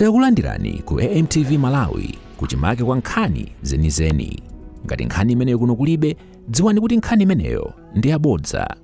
Takulandirani ku AMTV Malawi kuchimake kwa nkhani zenizeni. Ngati nkhani imeneyo kuno kulibe, dziwani kuti nkhani imeneyo ndi yabodza.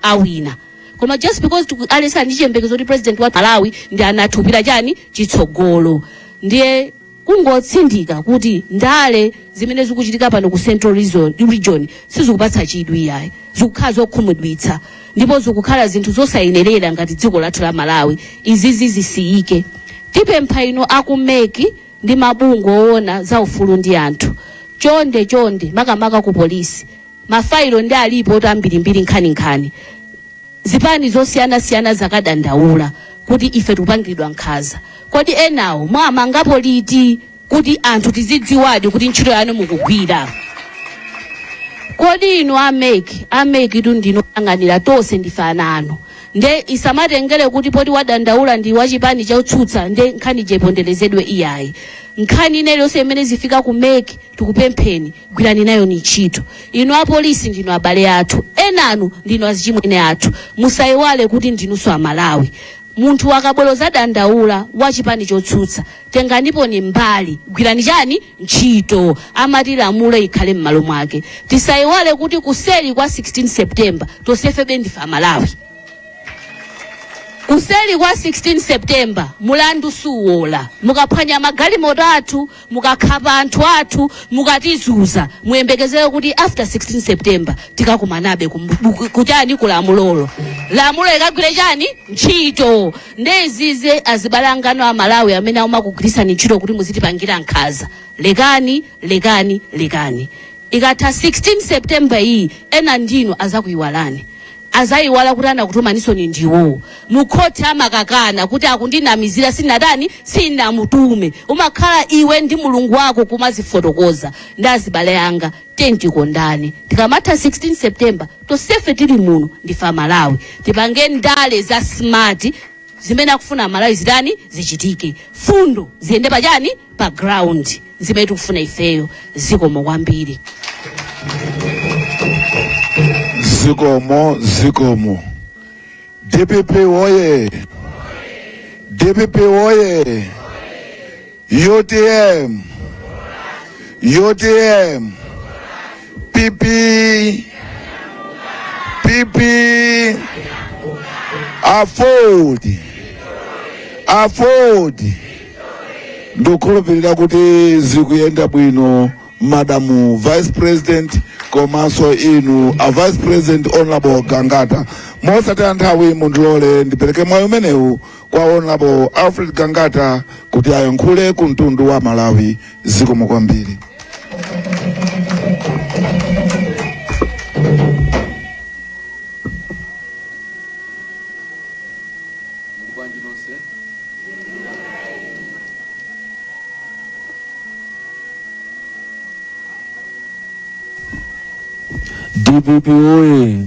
awina koma just because tiku- aliyense ali ndi chiyembekezo kuti president wa malawi ndi a Arthur Peter chani chitsogolo ndiye kungotsindika kuti ndale zimene zikuchitika pano ku central region sizikupatsa chidwi iyayi zikukhala zokhumudwitsa ndipo zikukhala zinthu zosayenerera ngati dziko lathu la malawi izizi zisiyike tipempha inu aku MEC ndi mabungwe owona za ufulu ndi anthu chonde chonde makamaka ku polisi mafailo ndi malipoti ambirimbiri nkhaninkhani zipani zosiyanasiyana zakadandaula kuti ife tikupangidwa nkhaza kodi enawo mwamangapo liti kuti anthu tizidziwadi kuti ntchito yanu mukugwira. Kodi inu a mec, a mec tu ndinu oyang'anira tonse ndife ana anu. Nde isamatengere kuti poti wadandaula ndi wachipani chotsutsa nde nkhani iponderezedwe iyayi. Nkhani ina iliyonse imene ifika ku mec tikupempheni gwirani nayoni ntchito. Inu apolisi ndinu abale athu, enanu ndinu azichimwene athu. Musaiwale kuti ndinunso amalawi. Munthu akabwera zadandaula wachipani chotsutsa tenganiponi mbali gwirani chani ntchito amati lamulo ikhale m'malo mwake tisayiwale kuti kuseli kwa 16 september tonsefebe ndife amalawi kuseli kwa 16 september mulandu suwola mukaphwanya magalimoto athu mukakhapa anthu athu mukatizunza muyembekezere kuti after 16 september tikakumanabe kum- ku- kuchani kulamulolo lamulo ikagwire chani ntchito nde izizi azibale anganu a malawi amene amakugwiritsani ntchito kuti muzitipangira nkhaza lekani lekani lekani ikatha 16 september iyi enanu inu azakuyiwalani azayiwala kuti anakutumaninso ndi iwowo mukhoti amakakana kuti akundinamizira sinatani sinamutume umakhala iwe ndi mulungu wako kumazifotokoza ndi azibale anga tiyeni tikondane tikamatha 16 september tonsefe tili muno ndife amalawi tipange ndale za smart zimene akufuna amalawi zitani zichitike mfundo ziyende pachani pa ground zimene tikufuna ifeyo zikomo kwambiri zikomo zikomo dpp woye dpp woye UTM, UTM, PP, PP, AFORD, AFORD. Ndikukhulupirira kuti zikuyenda bwino madamu vice president komanso inu a vice president honorable Gangata mosataya nthawi mundilole ndipereke mwayi umenewu kwa honorable alfred gangata kuti ayankhule ku mtundu wa malawi zikomo kwambiri bwanji nonse dpp oye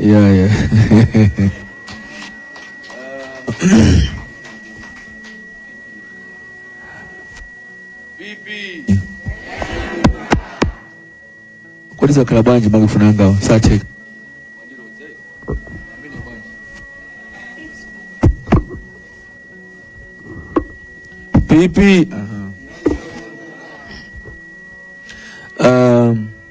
Yeah, yeah. Kodi zakhala bwanji makufuna angawo satheka pipi um,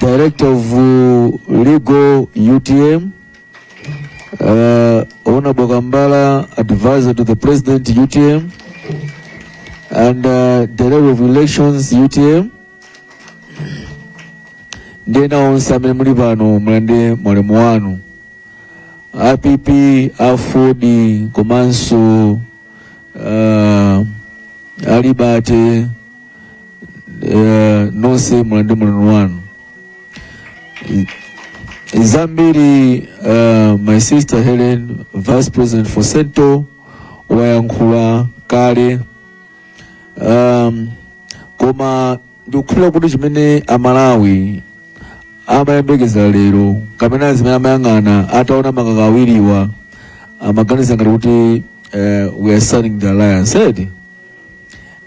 Director of uh, Legal UTM, uh, Ona Bogambala, advisor to the President UTM, and uh, Director of Elections UTM. Ndiye nawonse amene muli pano mulande mwalimu wanu app aford komanso uh, alibate eh, nonse mulandire ulemu wanu I- zambiri eh, my sister helen vice president for central wayankhula kale um, koma ndikukhulupirira kuti chimene amalawi amayembekeza lero kapena zimene amayang'ana ataona makaka awiriwa amaganiza ngati kuti eh, we are signing the alliance edi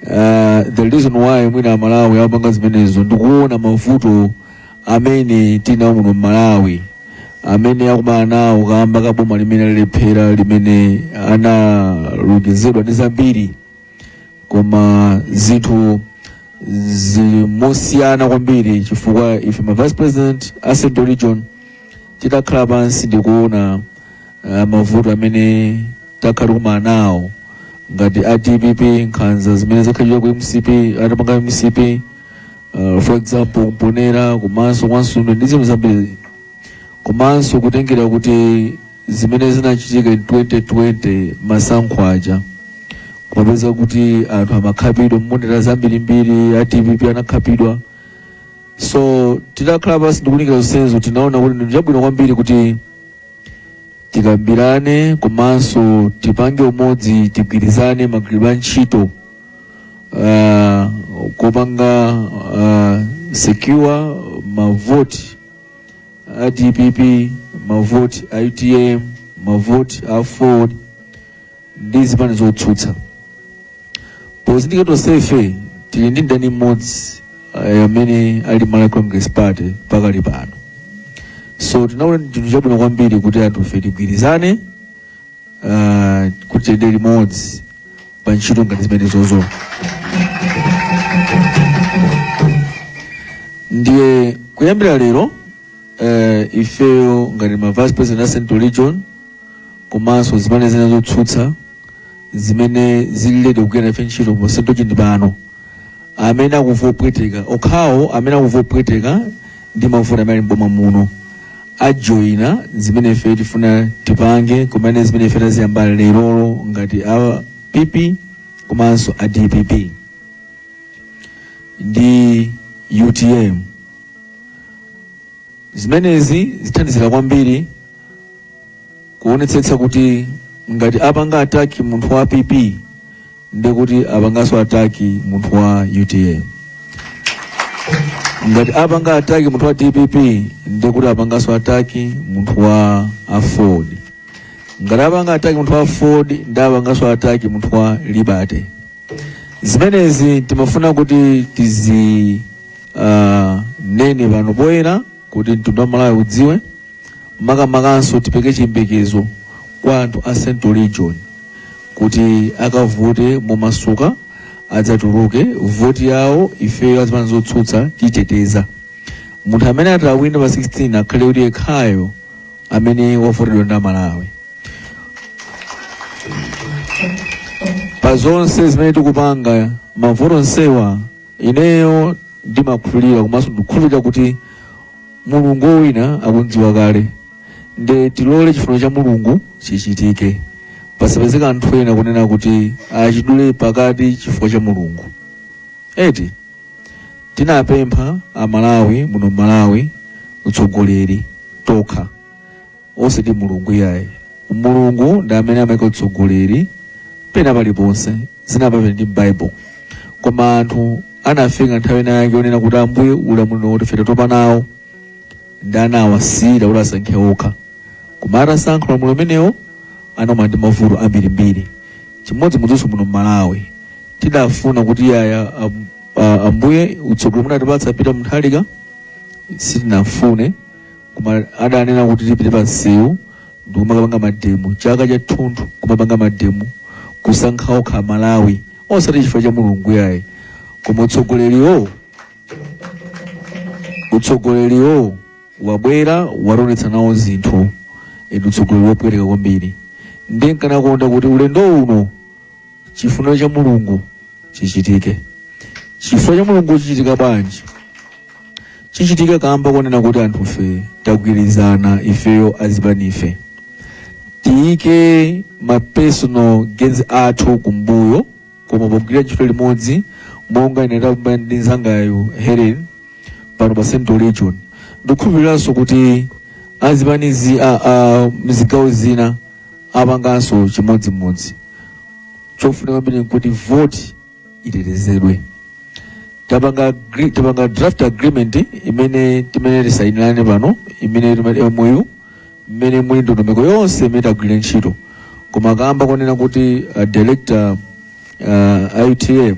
Uh, the reason why mwina amalawi amapanga zimenezo ndikuona mavuto amene tinawo muno m'malawi amene akumana nawo kamba ka boma limene lalephera limene analonjezedwa ndi zambiri koma zinthu nzosiyana kwambiri chifukwa ife ma vice president a central region titakhala pansi ndikuona ah, mavuto amene takhala tikumana nawo ngati a dpp nkhanza zimene zakhalira ku mcp atapanga mcp ah, for example mponela komanso kwa nsundwe ndi zinthu zambiri komanso kutengera kuti zimene zinachitika in 2020 masankho aja kumapeza kuti anthu amakhapidwa mamonita zambirimbiri a dpp anakhapidwa so titakhala pansi ndikulingalira zonsezo tinaona kuti ndi chabwino kwambiri kuti tikambirane komanso tipange umodzi tigwirizane magwiridwe a ntchito uh, kupanga uh, secure mavoti a dpp mavoti a utm mavoti a aford ndi zipani zotsutsa pozindikira tonsefe tili ndi mdani mmodzi eh, amene ali Malawi Congress Party pakali pano so tinaona ndi chinthu chabwino kwambiri kuti anthufe tigwirizane ah, kuti tiyende limodzi pa ntchito ngati zimenezozo ndiye kuyambira lero eh, ifeyo ngati ma vice president a central region komanso zipani zina zotsutsa zimene zili lede kugwira nafe ntchito pa central region pano amene akuva opweteka okhawo amene akumva kupweteka ndi mavuto amene ali m'boma muno ajoyina zimene ife tifuna tipange kumene zimene ife taziyamba lerolo ngati a pp komanso a dpp ndi utm zimenezi zithandizira kwambiri kuonetsetsa kuti ngati apanga ataki munthu wa pp ndi kuti apanganso ataki munthu wa utm ngati apanga ataki munthu wa dpp ndi kuti apanganso ataki munthu wa aford ngati apanga ataki munthu wa aford ndi apanganso ataki munthu wa liberty zimenezi timafuna kuti tizi uh, nene pano poyera kuti mtundu wa Amalawi udziwe makamakanso tipereke chiyembekezo kwa anthu a Central Region kuti akavote momasuka adzatuluke voti yawo ifeyo azipani zotsutsa titeteza munthu amene atawine pa 16 akhale kuti yekhayo amene wavoteredwa ndi Amalawi pa zonse zimene tikupanga mavuto onsewa Ineyo ndimakhulupirira komanso ndikukhulupirira kuti Mulungu wowina akumudziwa kale, nde tilole chifuniro cha Mulungu chichitike, pasapezeke anthu ena kunena kuti achidule pakati chifukwa cha Mulungu. Eti tinampempha Amalawi muno m'Malawi utsogoleri tokha. osati Mulungu iyayi. Mulungu ndi amene amaika utsogoleri pena paliponse, zina pamene ndi m'Bible. Koma anthu anafika nthawi ina yake onena kuti Ambuye ulamuliro wotere ife tatopa nawo ndi anawasiyira kuti asankhe okha. Koma atasankha ulamuliro umenewo anakumana ndi mavuto ambirimbiri. Chimodzimodzinso muno m'Malawi tidafuna kuti iyayi am- a- Ambuye utsogoleri munatipatsa Peter Mutharika sitinafune koma adanena kuti tipite pa msewu ndikumakapanga mademo chaka chathunthu kumapanga mademo kusankha okha malawi osati chifukwa cha mulungu yayi koma utsogoleriwo utsogoleriwo wabwera wationetsa nawo zinthu ndi utsogoleri wopweteka kwambiri ndi nkanakonda kuti ulendo uno chifuniro cha mulungu chichitike chifuniro cha mulungu chichitika bwanji chichitike kamba konena kuti anthufe tagwirizana ifeyo azipanife tiyike ma personal gains athu kumbuyo koma pogwira ntchito limodzi monga ine ndakamba ndi mnzangayo helen pano pa central region ndikukhulupiriranso kuti azipanizi a, a mzigawo zina apanganso chimodzimodzi chofunika kwambiri nkuti voti itetezedwe tapanga agri- tapanga draft agreement imene timene tisainirane pano imene timati MOU imene muli ndondomeko yonse imene tagwire ntchito koma kamba konena kuti a director a UTM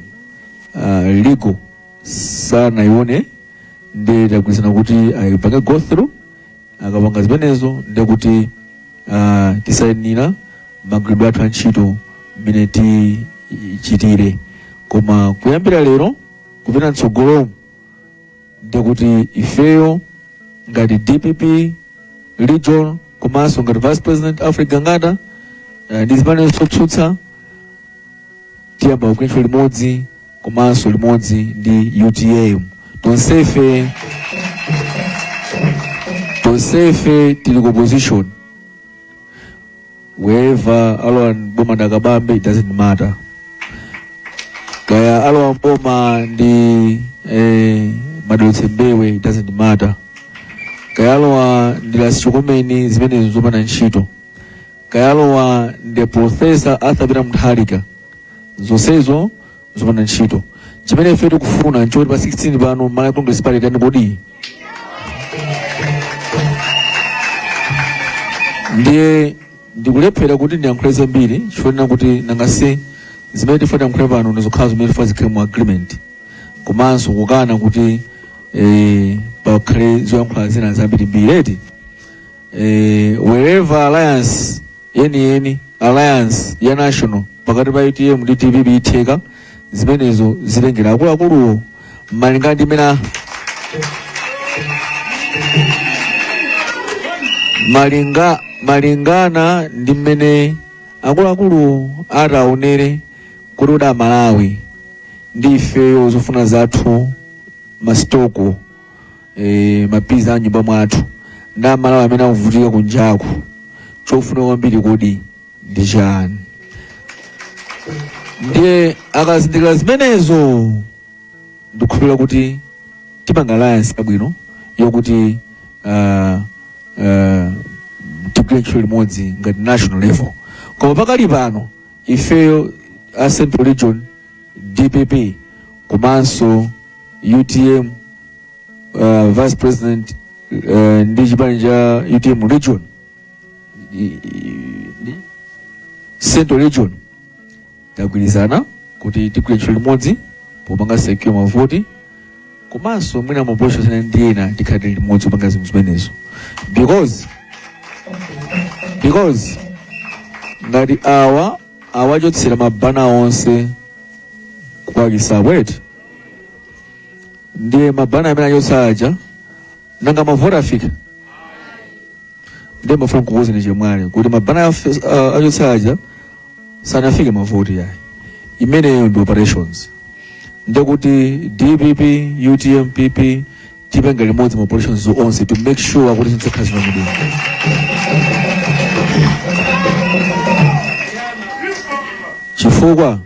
a legal sanaione ndi tagwirizana kuti ayipange go through akapanga zimenezo ndiye kuti ah, tisainira magwiridwe athu a ntchito mmene tichitire koma kuyambira lero kupita mtsogolomu ndiye kuti ifeyo ngati dpp region komanso ngati vice president alfred gangata eh, ndi zipanizo zotsutsa tiyamba kugwira ntchito limodzi komanso limodzi ndi utm tonsefe tonsefe tili ku opposition whoever alowa mboma nda Kabambe it doesn't matter kaya alowa mboma ndi eh, ma David Mbewe it doesn't matter kaya alowa ndi lasichokomeni zimenezo zopanda ntchito kaya alowa ndi profesa arthur peter mutharika zonsezo zopanda ntchito chimene ife tikufuna nchoti pa 16 pano malawi congress party tani kodi ndiye ndikulephera kuti ndiyankhule zambiri chifukwa kuti nangase zimene tifuna tiyankhule pano ndizokhudza zimene tifuna zikhale mu agreement komanso kukana kuti eh, pakhale zoyankhula zina zambirimbiri eti eh, whatever alliance yeniyeni alliance ya national pakati pa utm ndi dpp itheka zimenezo zitengera akuluakuluwo malingana ndi mmene malingana ndi mmene akuluakulu ataonere kuti koma Amalawi ndi ifeyo zofuna zathu masitoko e, mabanja a nyumba mwathu ndi aMalawi amene akuvutika kunjaku chofunika kwambiri kodi ndi chani ndiye akazindikira zimenezo ndikukhulupirira kuti tipanga alliance yabwino yokuti uh, uh, tigwire ntchito limodzi ngati national level koma pakali pano ifeyo a central region dpp komanso utm uh, vice president uh, ndi chipani cha utm region i- i- ndi central region tagwirizana kuti tigwire ntchito limodzi popanga secure mavoti komanso mwina ma operations ndi ena tikhale limodzi kupanga zinthu zimenezo because because ngati awa awachotsera mabana onse kupakisako eti ndiye mabana amene achotsa aja nanga mavoti afike ndiye nimafuna kukuuzani chemwali kuti mabana afe- a- achotsa aja sanafike mavoti yayi imeneyo ndi operations ndiye kuti dpp utm pp tipanga limodzi ma operations onse to make sure kuti zidzakhala zina mudini chifukwa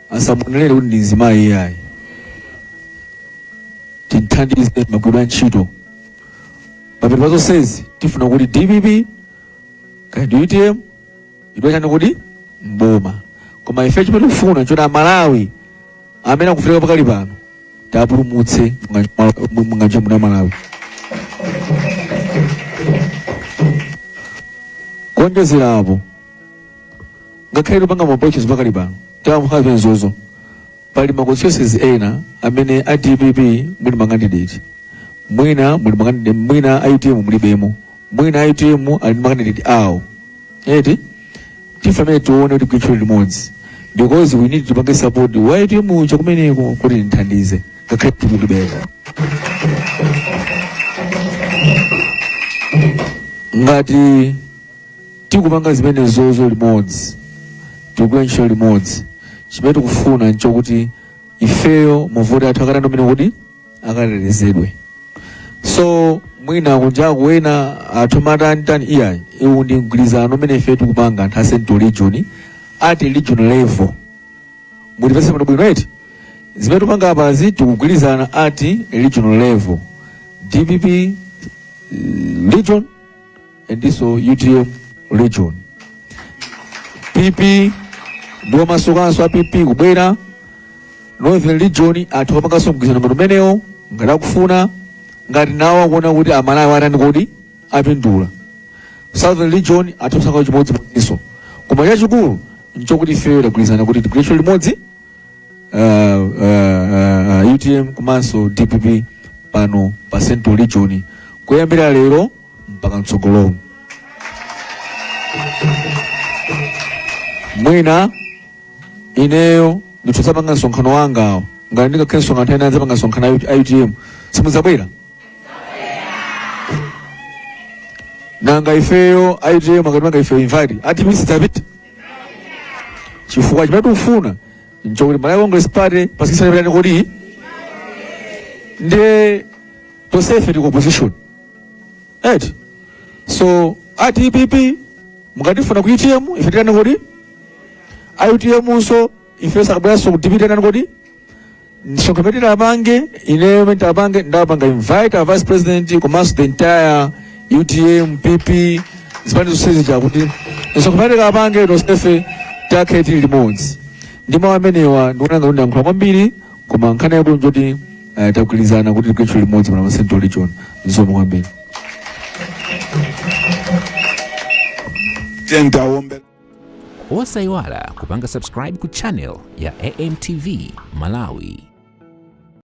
asamunenere kuti ndi mzimayi iyayi tinthandize magwiridwe a ntchito pamene pazonsezi tifuna kuti dpp kaya ndi utm chidwa chani kodi mboma koma ife chimene tikufuna nchoti aMalawi amene akuvutika pakali pano tiwapulumutse munganje muno aMalawi kuonjezera apo ngakhale tikupanga ma operations pakali pano tamukhape nzozo pali ma constituencies ena amene a dpp muli ma candidate mwina muli ma candidate mwina a utm mulibemo mwina utm ali ndi ma candidate awo eti ndife amene tione kuti tigwire ntchito limodzi because we need tipange support wa utm uja kumeneko kuti tithandize ngakhale tikutibeka ngati tikupanga zimenezozo limodzi tikugwira ntchito limodzi chimene tikufuna nchokuti ifeyo mavoti athu akatandomene kuti akatetezedwe so mwina kunjaku ena atha kumatanitani iyayi uwu ndi mgwirizano umene ife tikupanga anthu a central region at regional level mutimvetse bwino bwino eti zimene tikupanga apazi tikugwirizana at a regional level dpp eh, region and also utm region pp ndiwo masokanso a pp kubwera northern region anzathu apanganso mgwirizano ngati umenewo ngati akufuna ngati nawo akuona kuti amalawi atani kodi apindula southern region anzathu apanganso chimodzimodzinso koma chachikulu nchokuti ifeyo tagwirizana kuti tigwire ntchito limodzi uh, uh, uh, utm komanso dpp pano pa central region kuyambira lero mpaka mtsogolomu mwina ineyo nditazapanga msonkhano wangawo ngati ndikakhale ndi msonkhano nthawi ina ndizapanga msonkhano a utm simudzabwera nanga ifeyo a utm atatipanga ifeyo invite a dpp sitidzapita chifukwa chimene tikufuna nchokuti malawi congress party pa sikisitini itani kodi ndiye tonsefe tili ku opposition eti so a dpp mukatifuna ku utm ife tiitaneni kodi a utm nso ife tikabweranso ku dpp titani kodi msonkhano umene nditapange ineyo umene nditapange ndapanga invite a vice president komanso the entire utm pp zipani zonse zija kuti msonkhano umene tikapange tonsefe tikakhale tili limodzi ndi mawu amenewa ndikuona ngati ndayankhula kwambiri koma nkhani yake njoti uh, tagwirizana kuti tigwire ntchito limodzi pano pa central region zikomo kwambiri tiyeni tiwombere osayiwala kupanga subscribe ku channel ya amtv malawi